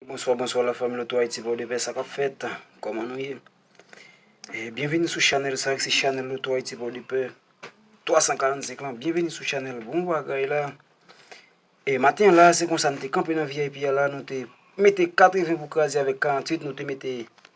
Bonswa bonswa la fanmi loto ayiti pòdepè sa kap fèt kòman nou ye eh, byenvini sou chanèl sa ki se chanèl loto ayiti pòdepè 345 lan byenvini sou chanèl bon bagay la e eh, maten la se konsa nou te kanpe nan vip a la nou te mete 80 pou kraze avèk 48 nou te mete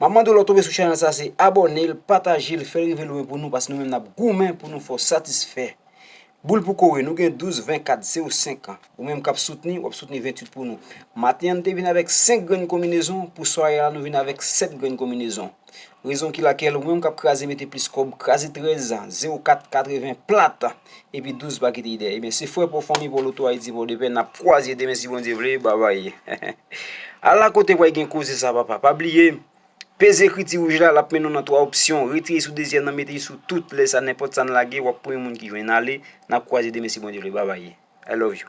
Map mande w lè w tonbe sou chanèl sa se abòne l, pataje l, fè l rive lwen pou nou paske nou menm nap goumen pou nou fè w satisfè. Boul pou kore, nou gen 12, 20, 4, 0, 5 an. Ou menm kap soutni, wap soutni 28 pou nou. Maten an nou te vin avèk 5 grenn konminezon, pou sware a la nou vin avèk 7 grenn konminezon. Rezon ki lakèl ou menm kap kraze mete plis kòb, kraze 13, 04, 80 plat. Epi 12 pa kite dèyè. Ebyen se frè paw fanmi paw loto ayiti paw depè nap kwaze demen si Bondye vle babay Ala kote wè gen koze sa papa pa bliye peze ekriti wouj la lap mennen w nan 3 opsyon retire sou dezyèm nan mete sou tout lè sa nenpòt sa n lage wap premye moun ki jwenn ale nap kwaze demen si Bondye vle babay I love you.